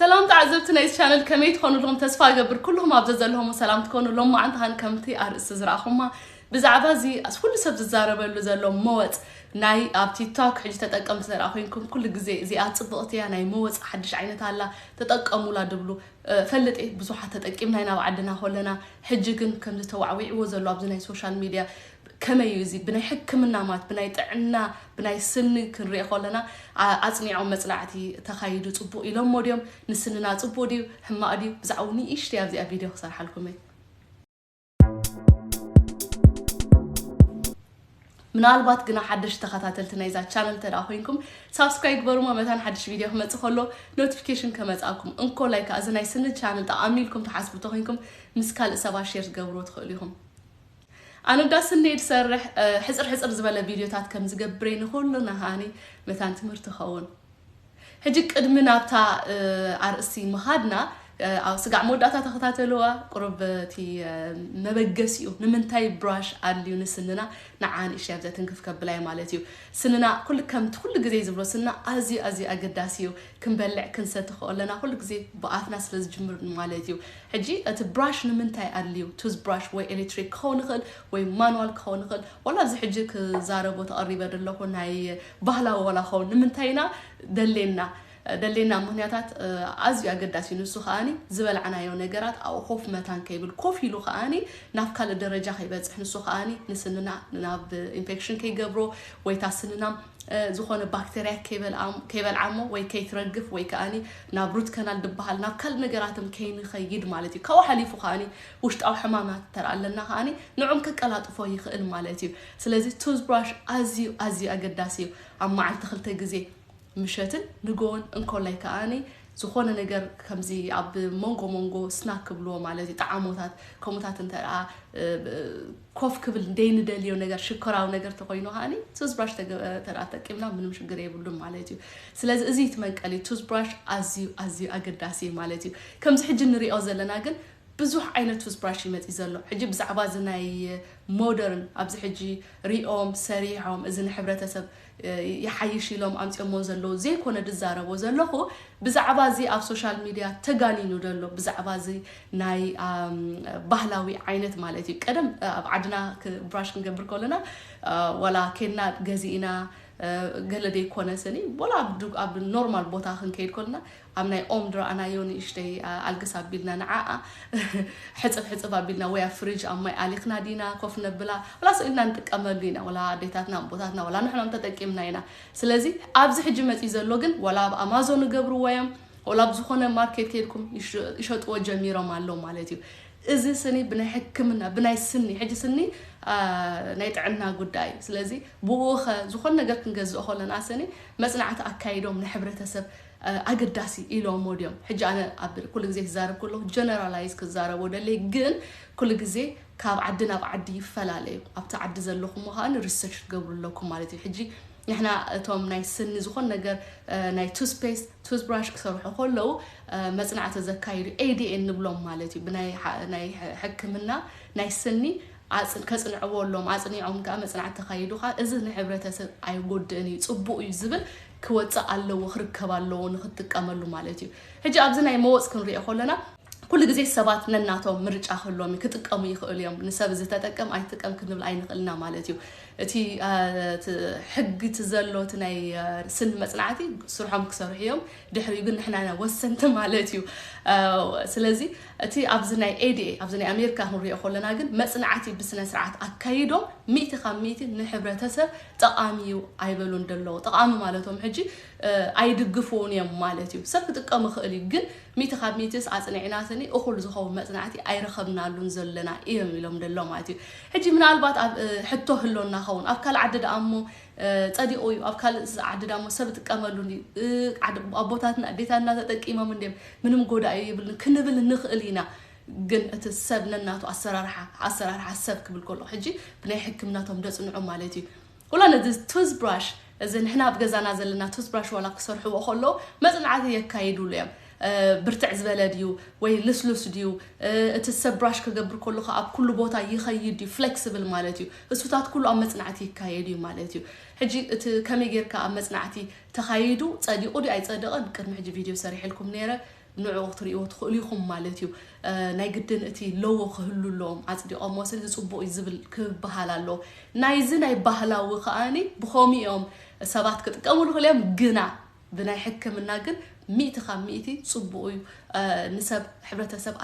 ሰላም ተዓዘብቲ ናይዚ ቻነል ከመይ ትኾኑ ኣለኹም ተስፋ እገብር ኩልኹም ኣብ ዘዘለኹም ሰላም ትኮኑ ሎም መዓንቲ ሃን ከምቲ ኣርእስቲ ዝረኣኹማ ብዛዕባ እዚ ኩሉ ሰብ ዝዛረበሉ ዘሎ መወፅ ናይ ኣብ ቲክቶክ ሕጂ ተጠቀምቲ ዘረኣ ኮንኩም ኩሉ ግዜ እዚኣ ፅብቕቲ እያ ናይ መወፅ ሓድሽ ዓይነት ኣላ ተጠቀሙላ ድብሉ ፈልጥ እየ ብዙሓት ተጠቂምና ኢና ኣብ ዓድና ኮለና ሕጂ ግን ከምዚ ተዋዕዊዕዎ ዘሎ ኣብዚ ናይ ሶሻል ሚድያ ከመይ እዩ እዚ ብናይ ሕክምና ማት ብናይ ጥዕና ብናይ ስኒ ክንሪኦ ከለና ኣጽኒዖም መጽናዕቲ ተካይዱ ጽቡቅ ኢሎሞ ድዮም ንስንና ጽቡቅ ድዩ ሕማቅ ድዩ ብዛዕኡ ንእሽተይ ኣብዚኣ ቪድዮ ክሰርሓልኩም እየ ምናልባት ግና ሓደሽ ተኸታተልቲ ናይዛ ቻነል እንተ ኮይንኩም ሳብስክራይብ ግበሩማ መታን ሓድሽ ቪድዮ ክመፅእ ከሎ ኖቲፊኬሽን ከመፅኣኩም እንኮ ላይ ከዓ እዚ ናይ ስኒ ቻነል ጠቃሚ ኢልኩም ትሓስቡ እንተኮይንኩም ምስ ካልእ ሰባት ሼር ትገብርዎ ትኽእሉ ኢኹም ኣነ እዳ ስኔ ድሰርሕ ሕጽር ሕጽር ዝበለ ቪድዮታት ከም ዝገብሬ ንኹሉና ሃኒ መታን ትምህርቲ ኸውን ሕጂ ቅድሚ ናብታ ኣርእስቲ ምኻድና ኣብ ስጋዕ መወዳእታ ተኸታተልዋ ቁሩብ እቲ መበገሲኡ ንምንታይ ብራሽ ኣድልዩ ንስንና ንዓ ንእሽተይ ኣብዚኣ ትንክፍ ከብላይ ማለት እዩ ስንና ኩሉ ከምቲ ኩሉ ግዜ ዝብሎ ስንና ኣዝዩ ኣዝዩ ኣገዳሲ እዩ ክንበልዕ ክንሰቲ ከለና ኩሉ ግዜ ብኣፍና ስለ ዝጅምር ማለት እዩ ሕጂ እቲ ብራሽ ንምንታይ ኣድልዩ ቱዝ ብራሽ ወይ ኤሌትሪክ ክኸውን ይኽእል ወይ ማንዋል ክኸውን ይኽእል ዋላ ኣብዚ ሕጂ ክዛረቦ ተቐሪበ ደለኹ ናይ ባህላዊ ዋላ ክኸውን ንምንታይ ኢና ደሌና ደሌና ምኽንያታት ኣዝዩ ኣገዳሲ እዩ ንሱ ከኣኒ ዝበላዕናዮ ነገራት ኣብኡ ኮፍ መታን ከይብል ኮፍ ኢሉ ከኣኒ ናብ ካልእ ደረጃ ከይበጽሕ ንሱ ከኣኒ ንስንና ናብ ኢንፌክሽን ከይገብሮ ወይታ ስንና ዝኾነ ባክተርያ ከይበልዓሞ ወይ ከይትረግፍ ወይ ከኣ ናብ ሩት ከናል ድበሃል ናብ ካልእ ነገራትም ከይንኸይድ ማለት እዩ ካብኡ ሓሊፉ ከኣ ውሽጣዊ ሕማማት እንተ ኣለና ከኣ ንዑም ከቀላጥፎ ይኽእል ማለት እዩ ስለዚ ቱዝብራሽ ኣዝዩ ኣዝዩ ኣገዳሲ እዩ ኣብ መዓልቲ ክልተ ግዜ ምሸትን ንጎን እንኮላይ ከኣ ዝኾነ ነገር ከምዚ ኣብ መንጎ መንጎ ስናክ ክብልዎ ማለት እዩ ጣዕሞታት ከምኡታት እንተ ኮፍ ክብል ደይንደልዮ ነገር ሽኮራዊ ነገር ተኾይኑ ኸኣኒ ቱዝብራሽ ተራ ተቂምና ምንም ሽግር የብሉን ማለት እዩ ስለዚ እዚ እቲ መንቀሊ ቱዝብራሽ ኣዝዩ ኣዝዩ ኣገዳሲ እዩ ማለት እዩ ከምዚ ሕጂ ንሪኦ ዘለና ግን ብዙሕ ዓይነት ቱዝብራሽ እዩ መፂ ዘሎ ሕጂ ብዛዕባ እዚ ናይ ሞደርን ኣብዚ ሕጂ ሪኦም ሰሪሖም እዚ ንሕብረተሰብ ይሓይሽ ኢሎም ኣምጺኦሞ ዘለዉ ዘይኮነ ድዛረቦ ዘለኹ ብዛዕባ እዚ ኣብ ሶሻል ሚድያ ተጋኒኑ ደሎ ብዛዕባ እዚ ናይ ባህላዊ ዓይነት ማለት እዩ ቀደም ኣብ ዓድና ብራሽ ክንገብር ከለና ዋላ ኬድና ገዚእና ገለ ዘይኮነ ስኒ ወላ ኣብ ኖርማል ቦታ ክንከይድ ከለና ኣብ ናይ ኦም ድራኣናዮ ንእሽተይ ኣልግስ ኣቢልና ንዓኣ ሕጽብ ሕጽብ ኣቢልና ወይ ኣብ ፍርጅ ኣብ ማይ ኣሊኽና ዲና ኮፍ ነብላ ወላስ ኢልና ንጥቀመሉ ኢና ወላ ኣዴታትና ኣቦታትና ወላ ንሕኖም ተጠቂምና ኢና ስለዚ ኣብዚ ሕጂ መጺ ዘሎ ግን ወላ ኣብ ኣማዞን ይገብርዎ እዮም ወላ ኣብ ዝኾነ ማርኬት ከይድኩም ይሸጥዎ ጀሚሮም ኣሎ ማለት እዩ እዚ ስኒ ብናይ ሕክምና ብናይ ስኒ ሕጂ ስኒ ናይ ጥዕና ጉዳይ እዩ ስለዚ ብኡኸ ዝኾነ ነገር ክንገዝእ ከለና ስኒ መጽናዕቲ ኣካይዶም ንሕብረተሰብ ኣገዳሲ ኢሎሞ ድዮም ሕጂ ኣነ ኣብ ኩሉ ግዜ ክዛረብ ከለኩ ጀነራላይዝ ክዛረቦ ደልየ ግን ኩሉ ግዜ ካብ ዓዲ ናብ ዓዲ ይፈላለ እዩ ኣብቲ ዓዲ ዘለኩሞ ከኣ ሪሰርች ክትገብሩ ኣለኩም ማለት እዩ ሕጂ ንሕና እቶም ናይ ስኒ ዝኮን ነገር ናይ ቱስፔስት ቱስብራሽ ክሰርሑ ከለዉ መጽናዕቲ ዘካይዱ ኤዲኤን ንብሎም ማለት እዩ ብናይ ሕክምና ናይ ስኒ ከጽንዕዎ ኣሎም ኣጽኒዖም ከኣ መጽናዕቲ ተካይዱ ከኣ እዚ ንሕብረተሰብ ኣይጎድእን እዩ ጽቡቅ እዩ ዝብል ክወጽእ ኣለዎ ክርከብ ኣለዎ ንክትጥቀመሉ ማለት እዩ ሕጂ ኣብዚ ናይ መወጽ ክንሪኦ ከሎና ኩሉ ግዜ ሰባት ነናቶም ምርጫ ክህልዎም እዩ ክጥቀሙ ይኽእሉ እዮም ንሰብ እዚ ተጠቀም ኣይትጥቀም ክንብል ኣይንኽእልና ማለት እዩ እቲ ሕጊ እቲ ዘሎ እቲ ናይ ስኒ መፅናዕቲ ስርሖም ክሰርሑ እዮም ድሕሪኡ ግን ንሕና ወሰንቲ ማለት እዩ ስለዚ እቲ ኣብዚ ናይ ኤድኤ ኣብዚ ናይ ኣሜሪካ ክንሪኦ ከለና ግን መፅናዕቲ ብስነ ስርዓት ኣካይዶም ሚእቲ ካብ ሚእቲ ንሕብረተሰብ ጠቓሚ እዩ ኣይበሉን ደለዉ ጠቓሚ ማለቶም ሕጂ ኣይድግፍዉን እዮም ማለት እዩ ሰብ ክጥቀም ይኽእል እዩ ግን ሚእቲ ካብ ሚእቲስ ኣጽኒዕና ስኒ እኹል ዝኸውን መጽናዕቲ ኣይረኸብናሉን ዘለና እዮም ኢሎም ደሎ ማለት እዩ ሕጂ ምናልባት ኣብ ሕቶ ህሎና ኸውን ኣብ ካልእ ዓዲ ደኣ እሞ ጸዲቑ እዩ ኣብ ካልእ ዓዲ ደኣ እሞ ሰብ ጥቀመሉ ኣቦታትና ኣዴታትና ተጠቂሞም እንድዮም ምንም ጎዳኢ ይብልን ክንብል ንኽእል ኢና ግን እቲ ሰብ ነናቱ ኣሰራርሓ ኣሰራርሓ ሰብ ክብል ከሎ ሕጂ ብናይ ሕክምና እቶም ደጽንዑ ማለት እዩ ወላ ነዚ ቱዝብራሽ እዚ ንሕና ኣብ ገዛና ዘለና ቱዝብራሽ ዋላ ክሰርሕዎ ከለዉ መጽናዕቲ የካይዱሉ እዮም ብርትዕ ዝበለ ድዩ ወይ ልስሉስ ድዩ እቲ ሰብ ብራሽ ክገብር ከሎ ከ ኣብ ኩሉ ቦታ ይኸይድ ድዩ ፍሌክስብል ማለት እዩ እሱታት ኩሉ ኣብ መጽናዕቲ ይካየድ እዩ ማለት እዩ ሕጂ እቲ ከመይ ጌርካ ኣብ መጽናዕቲ ተኻይዱ ጸዲቑ ድዩ ኣይጸደቐን ቅድሚ ሕጂ ቪድዮ ሰሪሕልኩም ነይረ ንዕኡ ክትርእይዎ ትኽእሉ ኢኹም ማለት እዩ። ናይ ግድን እቲ ሎዎ ክህሉ ኣለዎም ኣጽዲቖምዎ ስለዚ ጽቡቕ እዩ ዝብል ክበሃል ኣለዎ። ናይዚ ናይ ባህላዊ ከኣኒ ብኸምኡ እዮም ሰባት ክጥቀምሉ ይኽእሉ እዮም ግና ብናይ ሕክምና ግን ሚእቲ ካብ ሚእቲ ጽቡቕ እዩ ንሰብ ሕብረተሰብ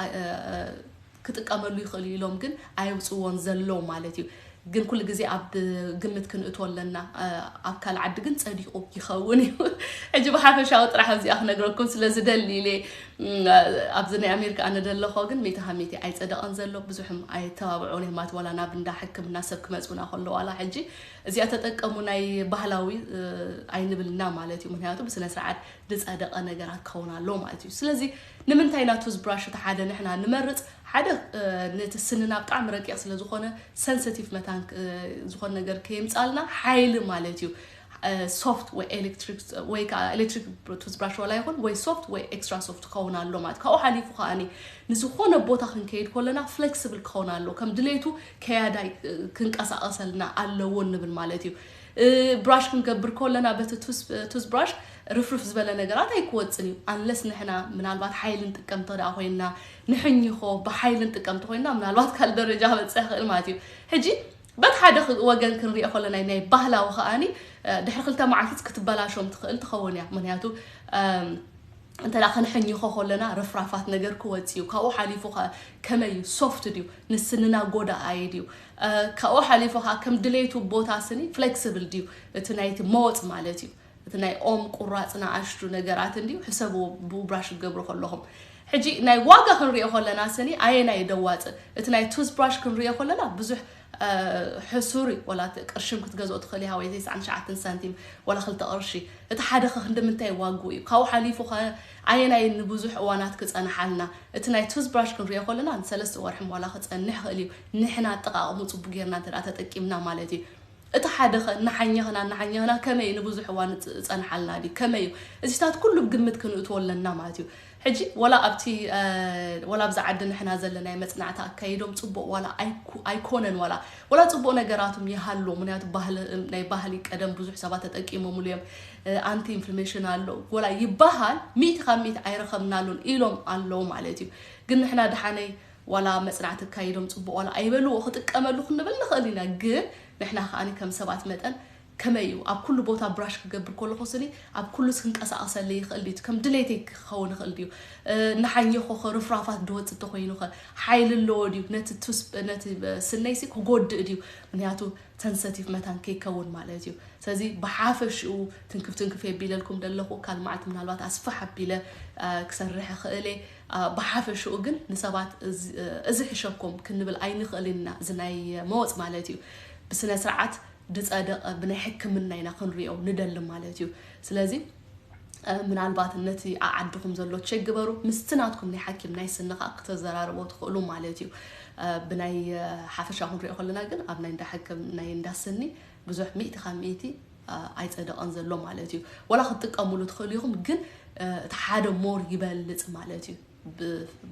ክጥቀመሉ ይኽእል እዩ ኢሎም ግን ኣየውፅዎን ዘለው ማለት እዩ። ግን ኩሉ ግዜ ኣብ ግምት ክንእቶ ኣለና ኣብ ካልእ ዓዲ ግን ጸዲቑ ይኸውን እዩ። ሕጂ ብሓፈሻዊ ጥራሕ ኣብዚኣ ክነግረኩም ስለ ዝደሊ ኢለ ኣብዚ ናይ ኣሜሪካ ኣነ ደለኾ ግን ሚእቲ ካብ ሚእቲ ኣይጸደቐን ዘሎ ብዙሕም ኣየተባብዑን እዮም ማለት ዋላ ናብ እንዳ ሕክምና ሰብ ክመጹና ከሎ ዋላ ሕጂ እዚኣ ተጠቀሙ ናይ ባህላዊ ኣይንብልና ማለት እዩ። ምክንያቱ ብስነ ስርዓት ዝጸደቐ ነገራት ክኸውን ኣለዎ ማለት እዩ። ስለዚ ንምንታይ ኢና ቱዝ ብራሽ እቲ ሓደ ንሕና ንመርጽ ሓደ ነቲ ስንና ብጣዕሚ ረቂቅ ስለ ዝኮነ ሰንሰቲቭ መታን ዝኮነ ነገር ከየምጻልና ሓይሊ ማለት እዩ ሶፍት ወይ ኤሌክትሪክ ወይ ከዓ ኤሌክትሪክ ቱዝ ብራሽ ዋላ ይኹን ወይ ሶፍት ወይ ኤክስትራ ሶፍት ክኸውን ኣሎ ማለት ካብኡ ሓሊፉ ከዓኒ ንዝኾነ ቦታ ክንከይድ ኮለና ፍሌክስብል ክኸውን ኣሎ ከም ድሌቱ ከያዳይ ክንቀሳቀሰልና ኣለዎ ንብል ማለት እዩ ብራሽ ክንገብር ኮለና በቲ ቱዝ ብራሽ ርፍርፍ ዝበለ ነገራት ኣይክወጽን እዩ ኣንለስ ንሕና ምናልባት ሓይሊ ንጥቀም እንተደኣ ኮይንና ንሕኝኾ ብሓይሊ ንጥቀም እንተኾይንና ምናልባት ካልእ ደረጃ ክበጽሕ ይኽእል ማለት እዩ ሕጂ በቲ ሓደ ወገን ክንሪኦ ከለና ናይ ባህላዊ ከኣኒ ድሕሪ ክልተ መዓልትስ ክትበላሾም ትኽእል ትኸውን እያ ምክንያቱ እንተ ክንሕኝኾ ከለና ርፍራፋት ነገር ክወፅ እዩ ካብኡ ሓሊፉ ከ ከመይ እዩ ሶፍት ድዩ ንስንና ጎዳኣይ ድዩ ካብኡ ሓሊፉ ከዓ ከም ድሌቱ ቦታ ስኒ ፍሌክስብል ድዩ እቲ ናይቲ መወፅ ማለት እዩ እቲ ናይ ኦም ቁራጽ ንኣሽቱ ነገራት እንድዩ ሕሰብዎ ብውብራሽ ክትገብሩ ከለኹም። ሕጂ ናይ ዋጋ ክንሪኦ ከለና ስኒ ኣየናይ እዩ ደዋጽእ እቲ ናይ ቱዝ ብራሽ ክንሪኦ ከለና ብዙሕ ሕሱር እዩ ወላ ቅርሽም ክትገዝኦ ትኽእል ኢኻ ወይ ተስዓን ትሽዓተን ሳንቲም ወላ ክልተ ቅርሺ እቲ ሓደ ከ ክንደምንታይ ዋግኡ እዩ ካብኡ ሓሊፉ ከ ኣየናይ ንብዙሕ እዋናት ክጸንሓልና እቲ ናይ ቱዝ ብራሽ ክንሪኦ ከለና ንሰለስተ ወርሒ ዋላ ክጸንሕ ይኽእል እዩ ንሕና ኣጠቃቅሙ ጽቡቅ ጌርና እንተ ተጠቂምና ማለት እዩ እቲ ሓደኸ እናሓኘኽና እናሓኘኽና ከመይ ንብዙሕ እዋን እጸንሓልና ድዩ ከመይ እዩ እዚታት ኩሉ ብ ግምት ክንእትዎ ኣለና ማለት እዩ ሕጂ ወላ ኣብቲ ወላ ኣብዚ ዓዲ ንሕና ዘለናዮ መጽናዕቲ ኣካይዶም ጽቡቕ ዋላ ኣይኮነን ዋላ ወላ ጽቡቕ ነገራትም ይሃሉ ምክንያቱ ባህሊ ናይ ባህሊ ቀደም ብዙሕ ሰባት ተጠቂሞምሉ እዮም ኣንቲ ኢንፍልሜሽን ኣሎ ወላ ይባሃል ሚእቲ ካብ ሚእቲ ኣይረኸብናሉን ኢሎም ኣለዉ ማለት እዩ ግን ንሕና ድሓነይ ዋላ መጽናዕቲ ኣካይዶም ጽቡቕ ዋላ ኣይበልዎ ክጥቀመሉ ክንብል ንኽእል ኢና ግን ንሕና ከኣ ከም ሰባት መጠን ከመይ እዩ ኣብ ኩሉ ቦታ ብራሽ ክገብር ከለኹ ስኒ ኣብ ኩሉስ ክንቀሳቐሰለይ ይኽእል ድዩ ከም ድሌተይ ክኸውን ይኽእል ድዩ እናሓኘኹኸ ርፍራፋት ድወጽእ ተኾይኑኸ ሓይሊ ኣለዎ ድዩ ነቲ ነቲ ስነይሲ ክጎድእ ድዩ ምክንያቱ ሰንሰቲቭ መታን ከይከውን ማለት እዩ ስለዚ ብሓፈሽኡ ትንክፍ ትንክፍ የቢለልኩም ደለኹ ካል መዓልቲ ምናልባት ኣስፋሕ ኣቢለ ክሰርሕ ይኽእል እየ ብሓፈሽኡ ግን ንሰባት እዚ ሕሸኩም ክንብል ኣይንኽእልን ኢና፣ እዚ ናይ መወጽ ማለት እዩ። ብስነ ስርዓት ድጸደቀ ብናይ ሕክምና ኢና ክንሪኦ ንደሊ ማለት እዩ። ስለዚ ምናልባት ነቲ ኣዓድኹም ዘሎ ቼክ ግበሩ፣ ምስቲ ናትኩም ናይ ሓኪም ናይ ስኒ ከኣ ክተዘራርቦ ትኽእሉ ማለት እዩ። ብናይ ሓፈሻ ክንሪኦ ከለና ግን ኣብ ናይ እንዳ ሕክም ናይ እንዳ ስኒ ብዙሕ ሚእቲ ካብ ሚእቲ ኣይጸደቐን ዘሎ ማለት እዩ። ወላ ክትጥቀምሉ ትኽእሉ ኢኹም ግን እቲ ሓደ ሞር ይበልጽ ማለት እዩ።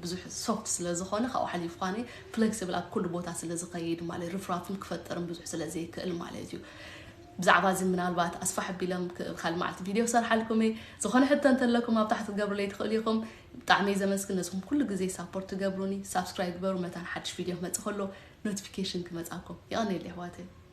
ብዙሕ ሶፍት ስለ ዝኾነ ካብኡ ሓሊፉ ኳነ ፍሌክሲብል ኣብ ኩሉ ቦታ ስለ ዝኸይድ ማለት ርፍራፍን ክፈጥርን ብዙሕ ስለ ዘይክእል ማለት እዩ ብዛዕባ እዚ ምናልባት ኣስፋሕ ቢሎም ካልእ መዓልቲ ቪድዮ ክሰርሓልኩም እየ ዝኾነ ሕቶ እንተለኩም ኣብ ታሕቲ ትገብሩለይ ትኽእሉ ኢኹም ብጣዕሚ እየ ዘመስግን ነዝኹም ኩሉ ግዜ ሳፖርት ትገብሩኒ ሳብስክራይብ ግበሩ መታን ሓድሽ ቪድዮ ክመፅእ ከሎ ኖቲፊኬሽን ክመፃኩም ይቐኒየለ ኣሕዋተይ